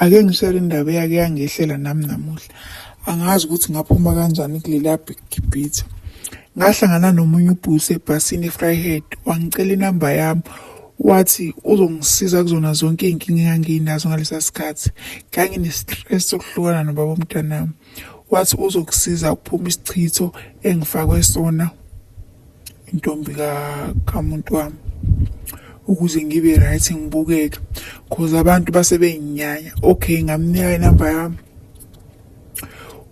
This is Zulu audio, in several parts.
ake ngishele indaba eyake yangehlela nami namuhla angazi ukuthi ngaphuma kanjani kulela gibhitha ngahlangana nomunye ubhusi ebhasini efryhead wangicela inamba yami wathi uzongisiza kuzona zonke iy'nkinga engangiyinazo ngalesa sikhathi nganginestress sokuhlukana nobaba omntanami wathi uzokusiza ukuphuma isichitho engifakwe sona intombi kamuntu wami ukuze ngibe right ngibukeke cause abantu base benginyanya okay ngamnika inamba yami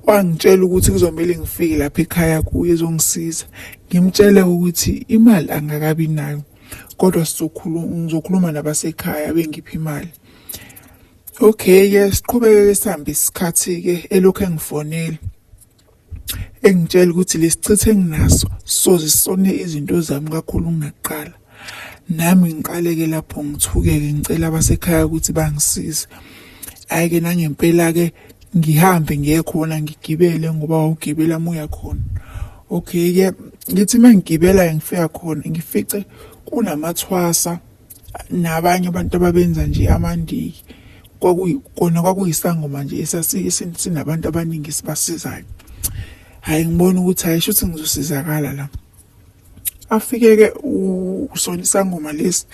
wangitshela ukuthi kuzomele ngifike lapha ekhaya kuye ezongisiza ngimtshele ukuthi imali angakabi nayo kodwa sizokhuluma ngizokhuluma nabasekhaya bengipha imali okay ke siqhubeke sihambe isikhathi ke elokhu engifonela engitshela ukuthi lesichithe enginaso soze sone izinto zami kakhulu ngingaqala nami ngiqaleke lapho ngithukeke ngicela abasekhaya ukuthi bangisize hayi ke nangempela ke ngihambe ngiye khona ngigibele ngoba wawugibela muya khona okay ke ngithi mangigibela ngifika khona ngifice kunamathwasa nabanye abantu ababenza nje amandiki kona kwakuyisangoma nje sinabantu abaningi esibasizayo hhayi ngibona ukuthi hhayi shuthi ngizosizakala la afike-ke usona isangoma lesi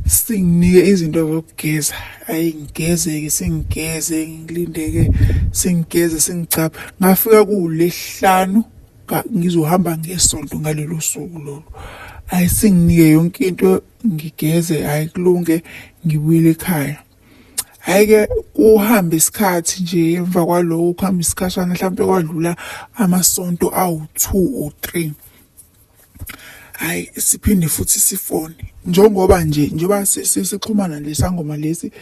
singinike izinto zokugeza ayi ngigeze-ke singigeze ngilinde-ke singigeze singicapha ngafika kuwulehlanu ngizohamba ngesonto ngalelo suku lolo ayi singinike yonke into ngigeze ayi kulunge ngibuyele ekhaya hhayi-ke kuhambe isikhathi nje emva kwaloko kuhambe isikhashana mhlawumpe kwadlula amasonto awu-two or three hayi siphinde futhi sifone njengoba nje njengoba sixhumana nesangoma lesi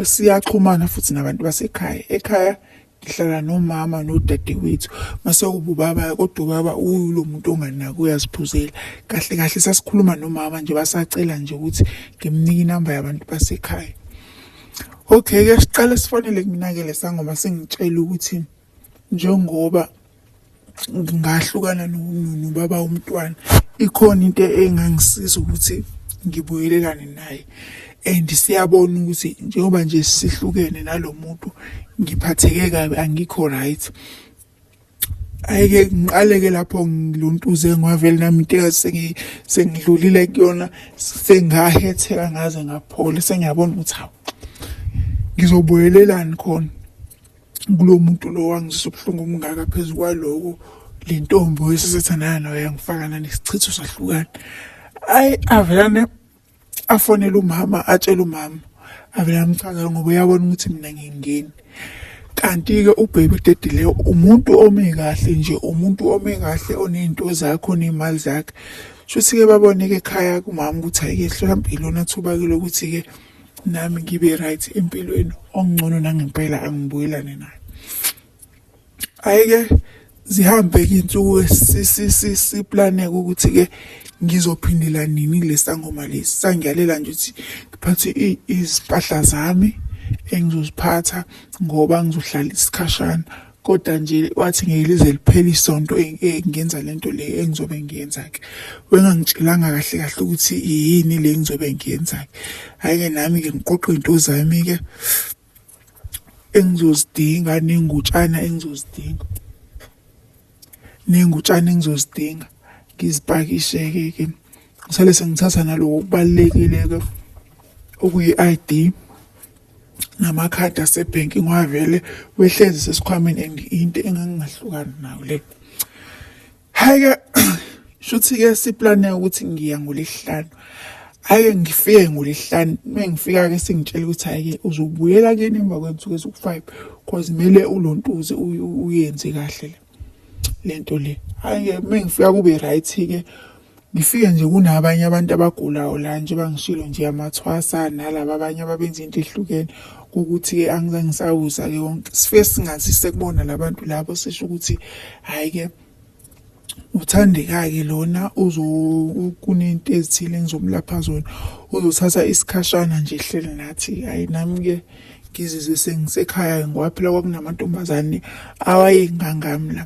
siyaxhumana futhi nabantu basekhaya ekhaya ngihlala nomama nodadewethu mase ububaba kodwa ubaba uyilo muntu onganaki uyaziphuzela kahle kahle sasikhuluma nomama nje basacela nje ukuthi ngimnike inamba yabantu basekhaya okay ke siqale sifonele kuminakele sangoma singitshela ukuthi njengoba ngahlukana nobaba womntwana ikhona into engangisiza ukuthi ngibuyelelane naye and siyabona ukuthi njengoba nje sihlukene nalo muntu ngiphatheke kabi angikho right ayike ngiqaleke lapho ngiluntuze ngwavele nami into engathi sengidlulile kuyona sengahetheka ngaze ngaphola sengiyabona ukuthi hawu ngizobuyelelani khona kulo muntu lo wangizisa ubuhlungu obungaka phezu kwaloko le ntombi oyesesethanayo nayo yangifakana nesichitho sahlukana ayi avelane afonele umama atshele umama avele amchazela ngoba uyabona ukuthi mina ngingeni kanti-ke ubhebe udedile umuntu ome kahle nje umuntu ome kahle oney'nto zakhe oney'mali zakhe shuthi-ke babone-ke ekhaya kumama ukuthi ayike hlola mpilo nathuba-ke lokuthi-ke nami ngibe right empilweni ongcono nangempela angibuyelane naye ayike zihambe ke insuku sisiplaneke ukuthi ke ngizophindela nini lesangoma lesi sangiyalela nje ukuthi ngiphathe izipahla zami engizoziphatha ngoba ngizohlala isikhashana kodwa nje wathi ngeke lize liphele isonto e, e, ngenza lento le engizobe ngiyenza ke wengangitshelanga kahle kahle ukuthi yini le engizobe ngiyenza ke hayi ke nami ke ngiqoqa into zami ke engizozidinga nengutshana engizozidinga nengutshana engizozidinga ngizipakishe ke ke ngisale sengithatha naloko kubalekile ke okuyi-ID namakhadi asebhenki ngiwavele wehlezi sesikhwameni and into engangingahlukani nayo le hayi-ke shuthi-ke siplane ukuthi ngiya ngolesihlanu ake ngifike ngolesihlanu uma ngifika-ke sengitshela ukuthi hhayi-ke uzobuyela kuyena emva kwensuku eziwu-five cause kumele ulontuze uyenze kahle le le nto le hhayi-ke uma ngifika kube right-ke Ngifike nje kunabanye abantu abagulayo la nje bangishilo nje amathwasa nalaba abanye ababenza into ehlukene ukuthi-ke angizange ngisawuza-ke wonke sifike singathi sekubona labantu labo sisho ukuthi hhayi-ke uthandeka-ke lona kunento ezithile engizomlapha zona uzothatha isikhashana nje hleli nathi hhayi nami-ke ngizizwe sengisekhaya-ke ngoba phela kwakunamantombazane awayengangami la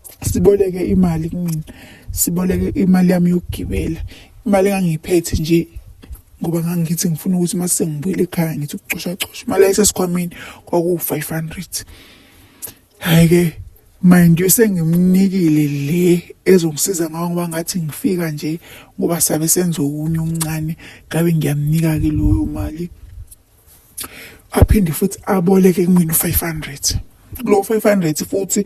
siboleke imali kumina siboleke imali yami yokugibela imali engangiyiphethe nje ngoba ngangithi ngifuna ukuthi uma sengibuyele ekhaya ngithi ukucoshacosha imali yayisesikhwameni kwakuwu-five hundred hhayi-ke mind you sengimnikile le ezongisiza ngawo ngoba ngathi ngifika nje ngoba sabe senza okunye okuncane ngabe ngiyamnika-ke loyo mali aphinde futhi aboleke kumina u-five hundred kulowo five hundred futhi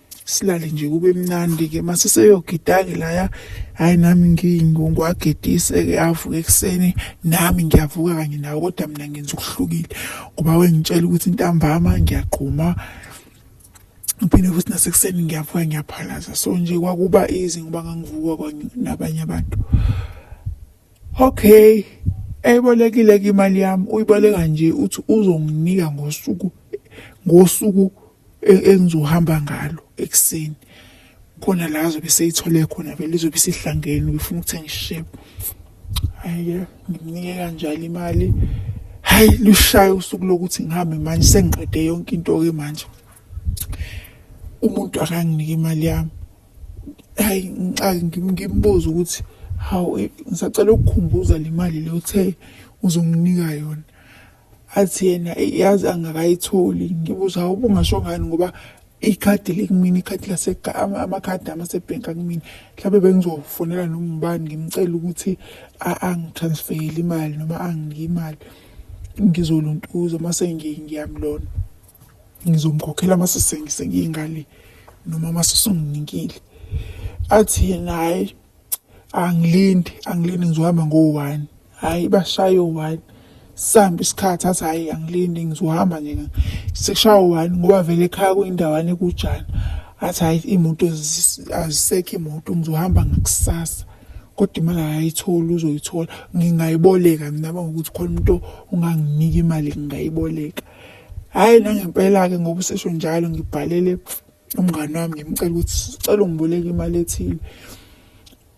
silale nje kube mnandi ke mase seyogidake laya hayi nami ngingungu agedise ke avuke ekuseni nami ngiyavuka kanye nawe kodwa mina ngenza ukuhlukile ngoba wengitshela ukuthi intambama ngiyagquma ngiphinde futhi nasekuseni ngiyavuka ngiyaphalaza so nje kwakuba easy ngoba ngangivuka kwanye nabanye abantu okay eyibolekile ke imali yami uyiboleka nje uthi uzonginika ngosuku ngosuku e-, engizohamba ngalo ekuseni khona la azobe seyithole khona vele izobe isihlangene ubefuna ukuthenga isishebo hayi ngimnike kanjalo imali hayi lushaya usuku lokuthi ngihambe manje sengiqede yonke into ke manje umuntu akanginike imali yami hayi ngixake ngimbuze ukuthi hawu eh, ngisacela ukukhumbuza le mali le uthe uzonginika yona athi yena yazi angakayitholi ngibuza hawu ubungasho ngani ngoba ikhadi likumina ikhadi amakhadi amasebhenki akumina mhlawumbe bengizofonela noma ubani ngimcela ukuthi angitransfeyele imali noma anginike imali ngizoluntuza uma sengiyamlona ngizomkhokhela uma sengiyingale noma uma sesunginikile athi yena hhayi angilindi angilindi ngizohamba ngo-one hhayi bashaye u-one sihambe isikhathi athi hhayi angilindi ngizohamba nje sekushaya u-one ngoba vele ekhaya kuyindawana ekujana athi hhayi iy'moto azisekho imoto ngizohamba ngakusasa kodwa imali akayitholi uzoyithola ngingayiboleka mina bangokuthi khona umuntu unganginika imali ngingayiboleka hhayi nangempela-ke ngoba usesho njalo ngibhalele umngane wami ngimcela ukuthi sicela ungiboleke imali ethile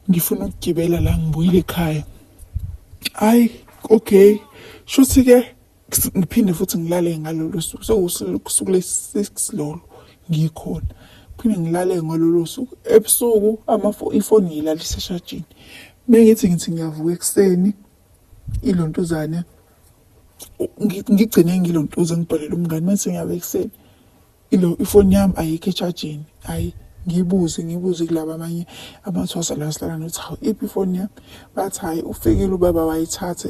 ngifuna ukugibela la ngibuyile ekhaya hayi okay shuthi ke ngiphinde futhi ngilale ngalolo suku sekusuku le-six lolo ngikhona phinde ngilale ngalolo suku ebusuku ifoni ngiyilalisa eshajini bengithi ngithi ngiyavuka ekuseni ilontuzane ngigcine ngilontuzane ngibhalele umngane mase ngiyabe ekuseni ilo ifoni yami ayikho echajini hayi ngibuze ngibuze kulaba abanye abathwasa la sihlala nokuthi hawu iphi ifoni yami bathi hhayi ufikile ubaba wayithatha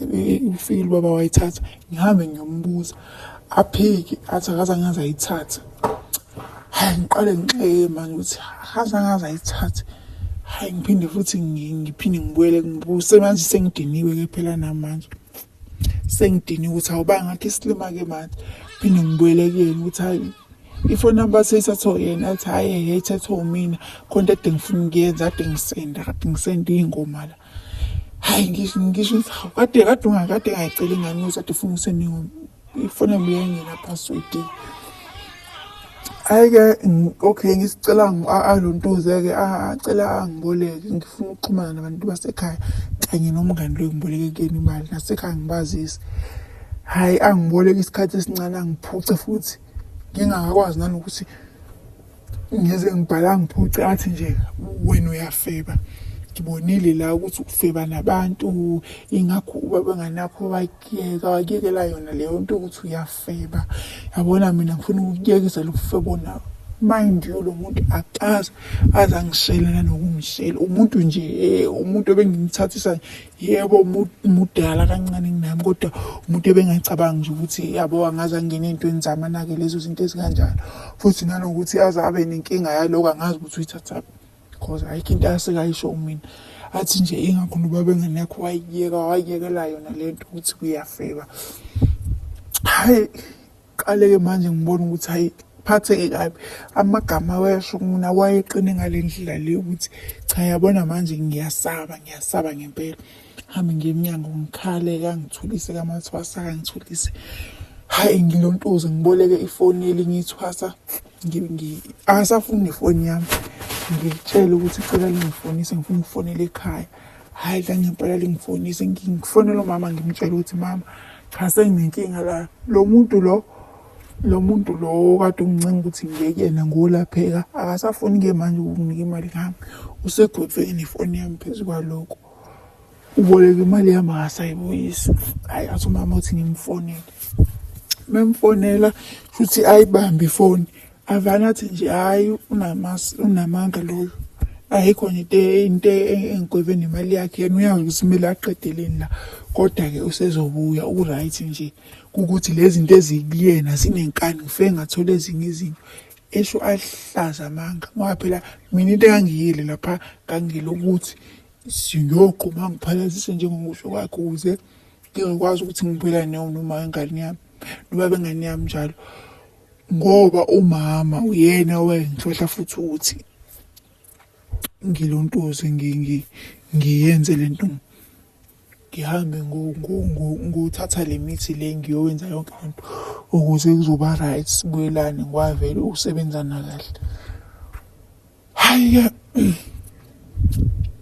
ufikile ubaba wayithatha ngihambe ngiyombuza aphiki athi akaze angaze ayithathe hhayi ngiqale ngixeke manje ukuthi akaze angaze ayithathe hhayi ngiphinde futhi ngiphinde ngibuyele ngibuse manje sengidiniwe-ke phela namanje sengidini ukuthi awuba ngathi isilima ke manje phinde ngibuyele kuyena ukuthi hayi ifoni namba seyithathwa yena athi hhayi ehe ithathwa umina khona ade ngifuna ukuyenza ade ngisenda kade ngisenda iy'ngoma la hhayi ngisho ngisho kade kade ungakade ngayicela ingane ukuthi ade funa usendingoma Ifone buyengena password. Hayi ke okay ngisicela alontuze ke acela angiboleke ngifuna ukuxhumana nabantu basekhaya kanye nomngani lo ngiboleke kuyena imali nasekhaya ngibazise. Hayi angiboleke isikhathi esincane angiphuce futhi ngingakakwazi nanokuthi ngize ngibhala ngiphuce athi nje wena uyafeba ngibonile la ukuthi ukufeba nabantu ingakho ubaba nganakho wakuyeka wakuyekela yona leyo nto ukuthi uyafeba yabona mina ngifuna ukuyekisa lokufebo nawo mind you lo muntu akazi aze angishelana nokungishela umuntu nje eh, umuntu ebengimthathisa yebo mudala kancane kunami kodwa umuntu ebengacabangi nje ukuthi yabo angaze angene ey'ntweni zami anake lezo zinto ezikanjalo futhi nanokuthi aze abe nenkinga yaloko angazi ukuthi uyithathaphi because ayikho into asekayisho kumina athi nje ingakho nobaba engane yakho wayiyeka wayiyekela yona le nto ukuthi kuyafeba hhayi qale-ke manje ngibona ukuthi hayi phatheke kabi amagama awesho mina wayeqine ngale ndlela le ukuthi cha yabona manje ngiyasaba ngiyasaba ngempela hambe ngiye emnyango ngikhale kangithulise kamathwasa kangithulise hayi ngilontuze ngiboleke ifoni elinye ithwasa angasafuni nefoni yami ngitshele ukuthi cela lingifonise ngifuna ukufonela ekhaya hhayi la ngempela lingifonise ngifonela umama ngimtshela ukuthi mama cha senginenkinga la lo muntu lo lo muntu lo kade ungincenga ukuthi ngiyekena ngolapheka akasafuni-ke manje ukunginika imali ngami usegotshweni ifoni yami phezu kwalokho uboleka imali yami akasayibuyisi hhayi athi umama uthi ngimfonele memfonela shuthi ayibambe ifoni avane athi nje hhayi unamanga loyo ayikho nje into engigweve nemali yakhe yena uyazi ukuthi kumele aqedeleni la kodwa-ke usezobuya u-right nje kukuthi lezi zinto ezikuyena zinenkani ngife ngathola ezinye izinto esho ahlaza amanga ngoba phela mina into engangiyile lapha ngangiyile ukuthi siyogquma ngiphalazise njengokusho kwakhe ukuze ngizokwazi ukuthi ngibuyelane noma ingane yami noba bengane yami njalo ngoba umama uyena owayengihlohla futhi ukuthi ngilontoze ngiyenze le nto ngihambe ngothatha le mithi le ngiyowenza yonke le nto ukuze kuzoba right sibuyelane ngiwavele ukusebenzana kahle hayi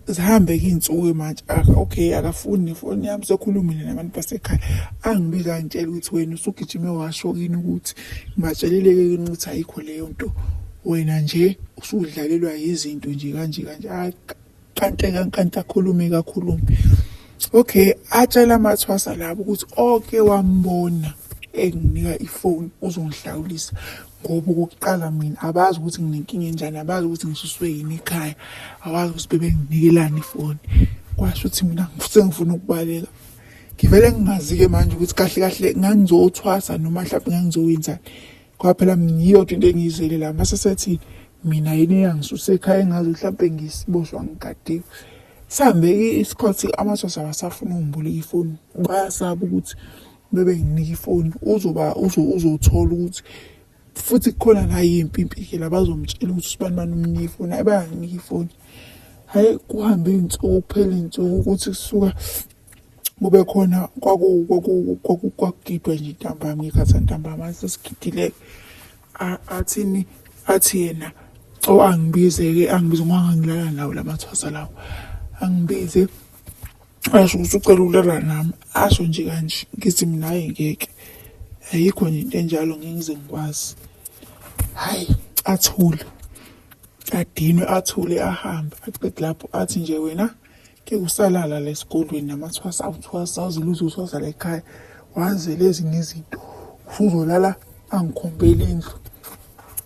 zihambe ke iy'nsuku manje okay akafuni nefoni yami sekhulumile nabantu basekhaya angibi kangitshela ukuthi wena usugijime washo kini ukuthi ngibatshelile-ke kini ukuthi ayikho leyo nto wena nje usudlalelwa yizinto nje kanje kanje kante kankanta khulume kakhulume okay atshela amathwasa labo ukuthi oke wambona enginika ifoni uzongihlawulisa ngoba okokuqala mina abazi ukuthi nginenkinga enjani abazi ukuthi ngisuswe yini ekhaya awazi ukuthi bebenginikelani ifoni kwasho ukuthi mina sengifuna ukubaleka ngivele ngingazi-ke manje ukuthi kahle kahle ngangizothwasa noma mhlawumbe ngangizokwenzani Ngoba phela mina yiyo nje into engiyizele la mase sethi mina yini eyangisuse ekhaya engazi mhlawumbe ngisiboshwa ngigadiwe. Sihambeke isikhathi amasosha abasafuna ungiboleka ifoni bayasaba ukuthi bebe nginika ifoni uzoba uzothola ukuthi futhi kukhona la yimpi impike la bazomtshela ukuthi usibani bani umnika ifoni ayi bayanginika ifoni. Hhayi kuhambe iy'nsuku kuphele iy'nsuku ukuthi kusuka kube khona kwakugidwe nje ntambama ngekhathi ntambama sesigidile athini athi yena o angibize-ke angibize ngoba ngangilala nawo la mathwasa lawo angibize asho ukuthi ucela ukulala nami asho nje kanje ngithi mina hayi ngeke ayikho nje into enjalo ngingize ngikwazi hhayi athule adinwe athule ahambe aqede lapho athi nje wena ke usalala la esikolweni namathwasa awuthwasa awuze luze uthwasa la ekhaya wazele ezinye izinto usuzolala angikhombeli indlu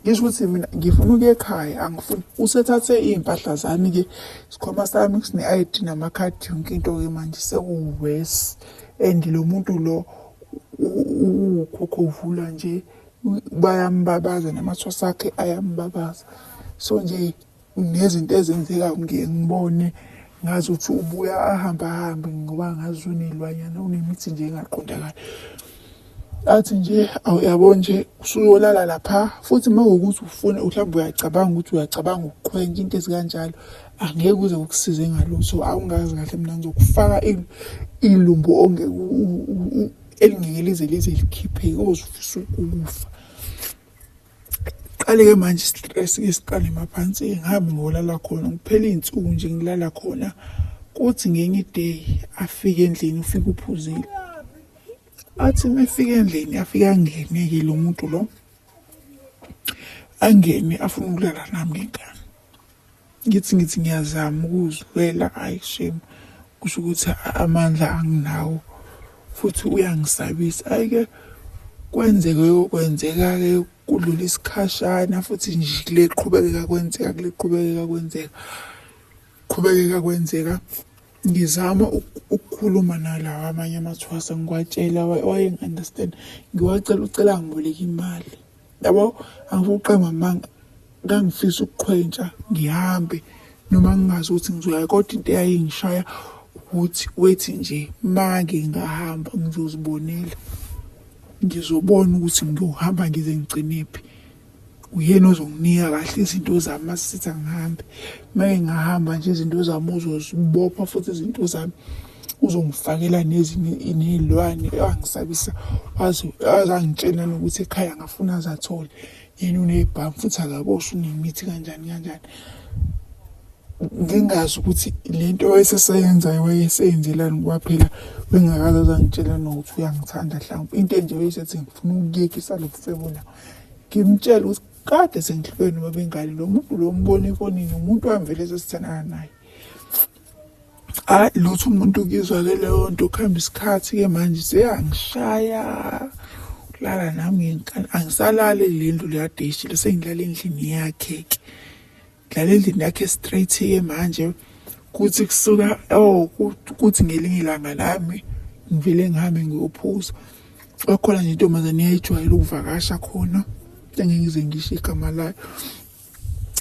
ngisho ukuthi mina ngifuna ukuya ekhaya angifuni usethathe iy'mpahla zami-ke isikhwama sami sine-i d namakhadi yonke into-ke manje sekuwesi and lo muntu lo ukhokhovula nje bayambabaza namathwasa akhe ayambabaza so nje Ngezinto ezenzeka ngiye ngibone ngazi ukuthi ubuya ahambe ahambe ngoba ngazi unelwanyana unemithi nje engaqondakali athi nje awuyabo nje usuyolala lapha futhi uma ukuthi ufuna mhlawumbe uyacabanga ukuthi uyacabanga ukuqhwentsha into ezikanjalo angeke uze ukusize ngalutho awungazi kahle mina ngizokufaka ilumbu elingeke lize lize likhiphe ozofisa ukufa Qale-ke manje stress-ke siqale maphansi ngihambe ngolala khona ngiphele iy'nsuku nje ngilala khona kuthi ngenye iday afike endlini ufike uphuzile athi uma efika endlini afike angene-ke lo muntu lo angene afuna ukulala nami ngenkani Ngithi ngithi ngiyazama ukuzilwela ayi shame kusho ukuthi amandla anginawo futhi uyangisabisa ayike kwenzeke yokwenzeka-ke kudlula isikhashana futhi nje kule qhubekeka kwenzeka kule qhubekeka kwenzeka qhubekeka kwenzeka ngizama ukukhuluma nalawa amanye amathwasa ngiwatshela wayengi-understand ngiwacela ucela ngiboleka imali yabo angikuqamba amanga ngangifisa ukuqhwentsha ngihambe noma ngingazi ukuthi ngizoya kodwa into eyayingishaya ukuthi wethi nje make ngingahamba ngizozibonela ngizobona ukuthi ngiyohamba ngize ngigcinephi uyena ozonginika kahle izinto zami asitha ngihambe make ngahamba nje izinto zami uzozibopha futhi izinto zami uzongifakela nezinye ney'lwane angisabisa azangitshela nokuthi ekhaya ngafuna azathole yena unebhamu futhi akaboshwa unemithi kanjani kanjani ngingazi ukuthi le nto wayeseseyenzayo wayeseyenzelani ngoba phela bengakaze azangitshela nokuthi uyangithanda mhlawumbe into enje wayesethi ngifuna ukuyekisa lo mfebo la ngimtshele ukuthi kade sengihlukene nobengane lo muntu lo mbona efonini umuntu wamvele esesithandana naye hayi lutho umuntu ukizwa ke leyo nto kuhamba isikhathi ke manje seyangishaya ukulala nami ngenkani angisalale le ndlu leyadeshile sengilala endlini yakhe ke ngilala endlini yakhe straight ke manje kuthi kusuka oh kuthi ngelinye ilanga lami ngivele ngihambe ngiyophuza kwakhona nje intombazane yayijwayele ukuvakasha khona engeke ngize ngisho igama layo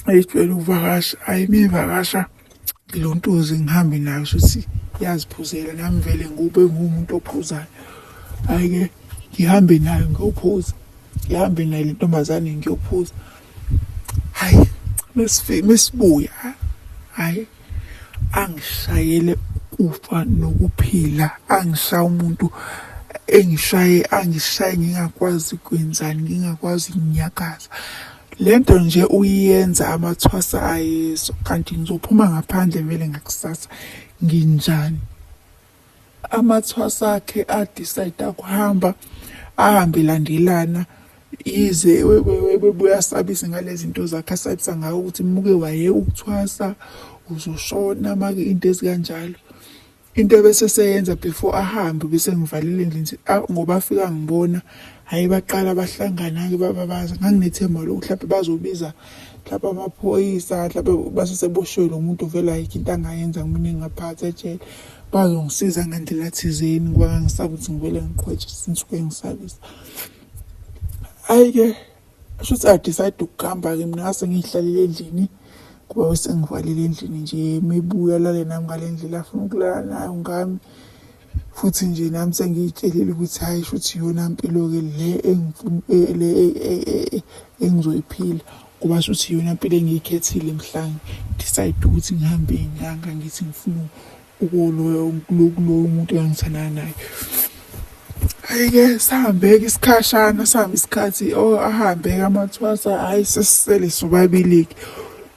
ayijwayele ukuvakasha ayi mivakasha ngilontuzi ngihambe nayo shuthi yaziphuzela nami vele ngube ngumuntu ophuzayo ayike ngihambe nayo ngiyophuza ngihambe nayo le ntombazane ngiyophuza hayi mesibuya hayi angishayele ukufa nokuphila angishaye umuntu engishaye angishaye ngingakwazi kwenzani ngingakwazi ukunyakaza lento nje uyiyenza amathwasa ayezo kanti ngizophuma ngaphandle vele ngakusasa nginjani amathwasa akhe adecide akuhamba ahambe landelana yize webuya asabise ngale zinto zakhe asabisa ngayo ukuthi muke waye ukuthwasa uzoshona make into ezikanjalo into bese seyenza before ahambe bese ngivalile nje ngoba afika ngibona hayi baqala bahlangana ke baba baza nganginethemba lokuthi lapha bazobiza lapha amaphoyisa lapha baseseboshwe lo muntu vele ayikho into angayenza kumina ngingaphatha ejele bazongisiza ngandlela thizeni ngoba ngangisakuthi ngivele ngiqhwetshe sinsuke ngisabisa hayi-ke Shuthi I decide ukuhamba ke mina ngase ngihlalele endlini kuba bese ngivalele endlini nje mebuya lale nami ngale ndlela afuna ukulala nayo ngami futhi nje nami sengiyitshelile ukuthi hayi shuthi yona mpilo ke le engifuna e, le e, e, engizoyiphila kuba shuthi yona mpilo engiyikhethile mhlawumbe decide ukuthi ngihambe inyanga ngithi ngifuna ukuloya ukulokuloya umuntu engangithandana naye ayike sihambeke isikhashana sihambe isikhathi o oh, ahambeke amathwasa hhayi sesisele sobabili-ke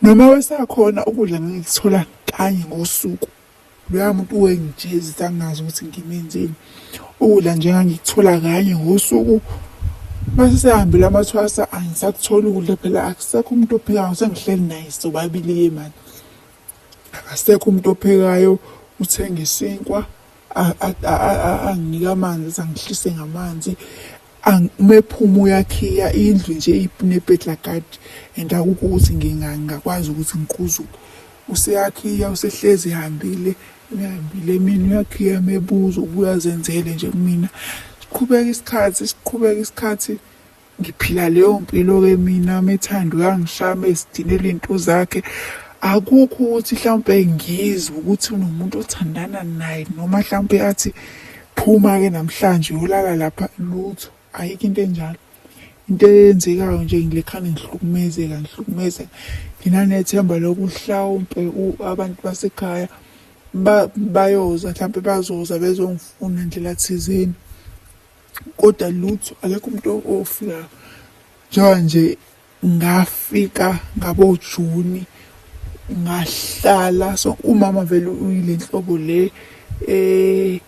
noma wesakhona ukudla ngangikuthola kanye ngosuku loya muntu wengijezi sangazi ukuthi ngimenzeni ukudla nje ngangikuthola kanye ngosuku mase sehambile amathwasa angisakutholi ukudla phela akusekho umuntu ophikayo sengihleli naye sobabili-ke mani Akasekho umuntu ophekayo uthenga isinkwa anginike amanzi athi angihlise ngamanzi uma ephuma uyakhiya indlu nje inepetlakadi and akukho ukuthi ngingakwazi ukuthi ngiquzuke useyakhiya usehlezi ehambile uyahambile emini uyakhiya mebuza ubuya azenzele nje kumina siqhubeka isikhathi siqhubeka isikhathi ngiphila leyo mpilo ke mina methanda uyangishama esidinela into zakhe akukho ukuthi mhlawumbe ngizwe ukuthi unomuntu othandana naye noma mhlawumbe athi phuma ke namhlanje uyolala lapha lutho ayikho into enjalo into eyenzekayo nje ngilekhane ngihlukumezeka ngihlukumezeka nginanethemba lokuhlawumpe abantu basekhaya bayoza mhlawumpe bazoza bezongifuna ndlela thizeni kodwa lutho akekho umuntu ofika njengoba nje ngafika ngabojuni ngahlala so umama vele uyile nhlobo le eh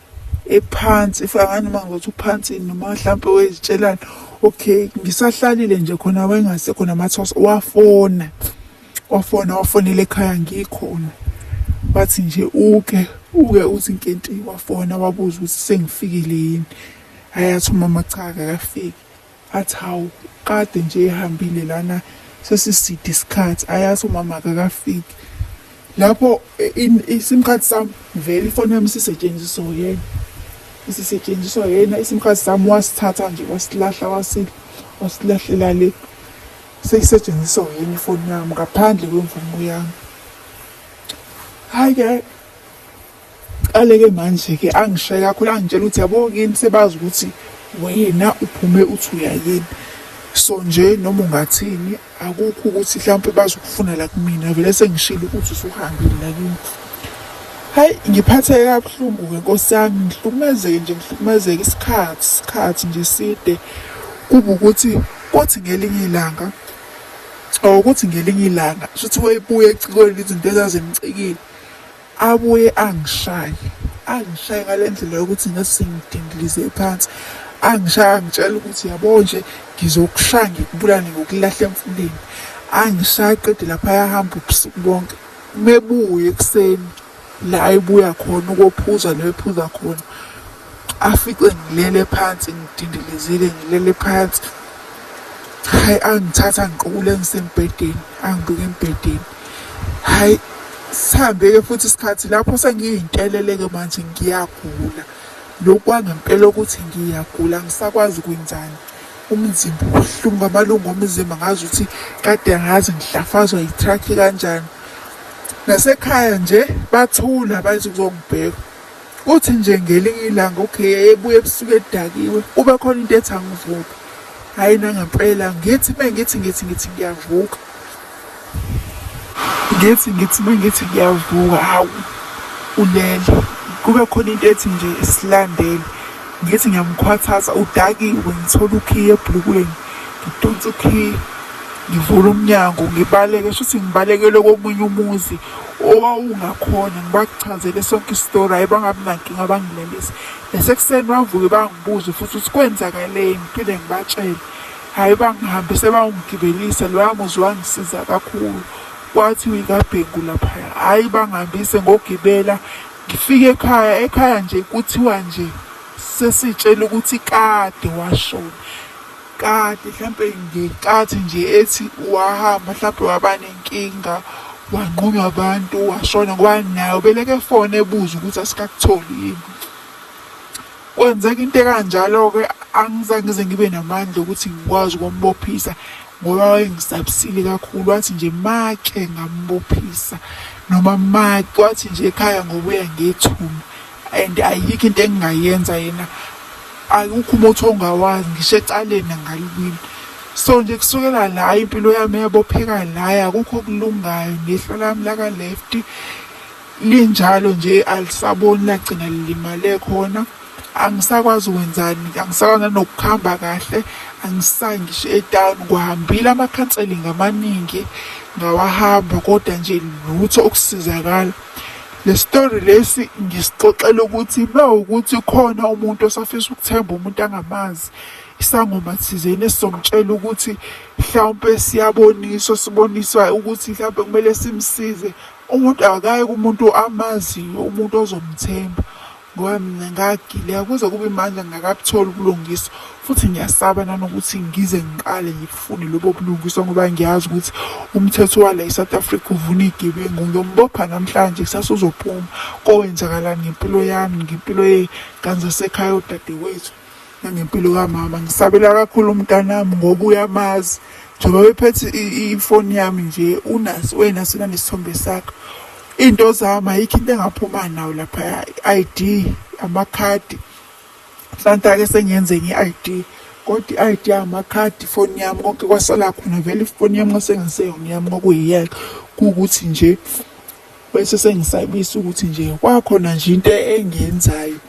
ephansi ifika ngani uma ngothi uphansi noma mhlawumpe wezitshelana okay ngisahlalile nje khona wayengasekho namathosa wafona wafona wafonela ekhaya ngikhona wathi nje uke uke uthi nkenti wafona wabuza ukuthi sengifikile yini hhayi athi umama cha akakafiki athi hawu kade nje ehambile lana sesiside isikhathi ayathi umama akakafiki lapho isim card sami vele ifoni yami sisetshenziswa yena isisetshenziswa yena isim card sami wasithatha nje wasilahla wasilahlela le seyisetshenziswa yini ifoni yami ngaphandle kwemvumo yami hayi ke qaleke manje ke angishaye kakhulu angitshela ukuthi yabo kini sebazi ukuthi wena uphume uthi uyayini so nje noma ungathini akukho ukuthi mhlawumpe bazokufuna la kumina vele sengishilo ukuthi usuhambile la kimi hayi ngiphatheke kabuhlungu-ke nkosi yami ngihlukumezeke nje ngihlukumezeke isikhathi isikhathi nje side kuba ukuthi Kwathi ngelinye ilanga or ukuthi ngelinye ilanga shuthi wayebuya ecikweni izinto ezazimcikile abuye angishaye angishaye ngale ndlela yokuthi ngasingidindilize phansi angishaya angitshela ukuthi yabo nje ngizokushaya ngikubulane ngokulahla emfuleni angishaya qede lapha yahamba ubusuku bonke mebuye ekuseni la ebuya khona ukophuza lo ephuza khona Afice ngilele phansi ngidindilizile ngilele phansi hayi angithatha ngiqukule ngisembhedeni angibeke embhedeni hayi sihambe-ke futhi isikhathi lapho sengiyinteleleke manje ngiyagula lokhu kwangempela ukuthi ngiyagula ngisakwazi ukwenzani umzimba ubuhlungu amalungu omzimba ngazi ukuthi kade ngazi ngihlafazwa yithrakhi kanjani nasekhaya nje bathula bathi kuzongibheka Uthi nje ngelinye ilanga okay ebuye ebusuku edakiwe kube khona into ethi angivuke hayi nangempela ngithi uma ngithi ngithi ngithi ngiyavuka ngithi ngithi uma ngithi ngiyavuka hawu ulele kube khona into ethi nje silandele ngithi ngiyamkhwathaza udakiwe ngithola ukhiye ebhulukweni ngidonsa ukhiye ngivula umnyango ngibaleke shuthi ngibalekelwe komunye umuzi owawungakhona ngibakuchazele sonke isitori hayi bangabi nankinga bangilelise nasekuseni bavuke bangibuze futhi ukuthi kwenzakaleni ngiphinde ngibatshele hhayi bangihambe sebawungigibelisa loya muzi wangisiza kakhulu kwathi uyikabhengu laphaya hhayi bangihambise ngogibela ngifike ekhaya ekhaya nje kuthiwa nje sesitshela ukuthi kade washona kade mhlampe ngenkathi nje ethi wahamba mhlampe waba nenkinga wanqunywa abantu washona ngoba naye ubeleke fone ebuza ukuthi asikakutholi yini kwenzeka into ekanjalo-ke angizange ngize ngibe namandla okuthi ngikwazi ukumbophisa ngoba wayengisabisile kakhulu wathi nje make ngambophisa noma make wathi nje ekhaya ngobuya ngethuna and ayikho into engingayenza yena ayikho umuthi ongawazi ngisho ecaleni angalibili so nje kusukela la impilo yami yabopheka laya akukho okulungayo nehlo lami laka-left linjalo nje alisaboni lagcina lilimale khona angisakwazi ukwenzani angisakwazi nanokuhamba kahle angisayi ngisho etown kuhambile amakhanselingi amaningi ngawahamba kodwa nje lutho ukusizakala Le story lesi ngisixoxela ukuthi uma ukuthi khona umuntu osafisa ukuthemba umuntu angamazi isangoma thizeni esizomtshela ukuthi mhlawumpe siyaboniswa siboniswa ukuthi mhlawumpe kumele simsize umuntu akaye kumuntu amaziyo umuntu ozomthemba Ngoba mina ngagileka kuze kube manje ngingakabutholi ubulungiswa futhi ngiyasaba nanokuthi ngize ngiqale ngibufune lobo bulungiswa ngoba ngiyazi ukuthi umthetho wala eSouth Africa uvuna igebengu ngiyombopha namhlanje kusasa uzophuma kowenzakalani ngempilo yami ngempilo yey'ngane zasekhaya odadewethu nangempilo kamama ngisabela kakhulu umntanami ngoba uyamazi njengoba bephethe ifoni yami nje unaso wena sona nesithombe sakho into zami ayikho into engaphuma nawo lapha i-ID amakhadi mhlawumbe-ke sengiyenze nge-ID kodwa i-ID amakhadi ifoni yami konke kwasala khona vele ifoni yami kwasengaseyona yami kwakuyiyeke kuwukuthi nje bese sengisabisa ukuthi nje kwakhona nje into engiyenzayo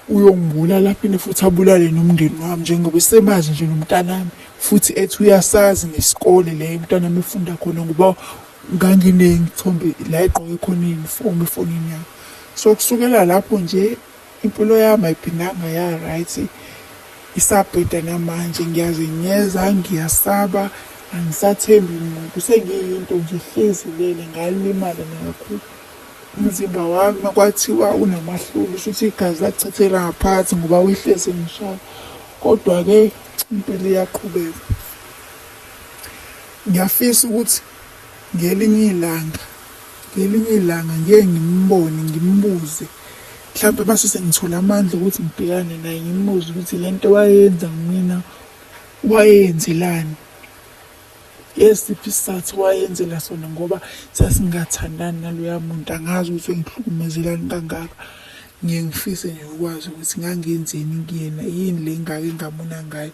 uyongibulala aphinde futhi abulale nomndeni wami njengoba esemazi nje nomntanami futhi ethi uyasazi nesikole la umntanami efunda khona ngoba ngangineyithombe la egqoke khona iyunifomu efonini yami so kusukela lapho nje impilo yami ayiphindanga ya-right isabheda namanje ngiyazenyeza ngiyasaba angisathembi muntu sengiyinto nje hlezi lele ngalimala nakakhulu umzimba wami makwathiwa unamahlulu shuthi igazi lachithela ngaphansi ngoba wehlezi ngishaya kodwa-ke impilo iyaqhubeka ngiyafisa ukuthi ngelinye ilanga ngelinye ilanga ngeke ngimbone ngimbuze mhlawumbe base sengithola amandla ukuthi ngibhekane naye ngimbuze ukuthi le nto wayenza kumina wayenzelani Yesiphi isizathu wayenzela sona ngoba sasingathandani naloya muntu angazi ukuthi engihlukumezelani kangaka ngiye ngifise nje ukwazi ukuthi ngangenzeni kuyena yini le ngake ngamona ngayo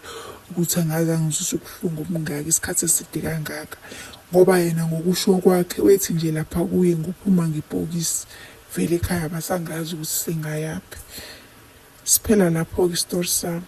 ukuthi angazi angizwise ubuhlungu obungaka isikhathi eside kangaka ngoba yena ngokusho kwakhe wethi nje lapha kuye ngophuma ngebhokisi vele ekhaya basangazi ukuthi singayaphi siphela lapho-ke isitori sami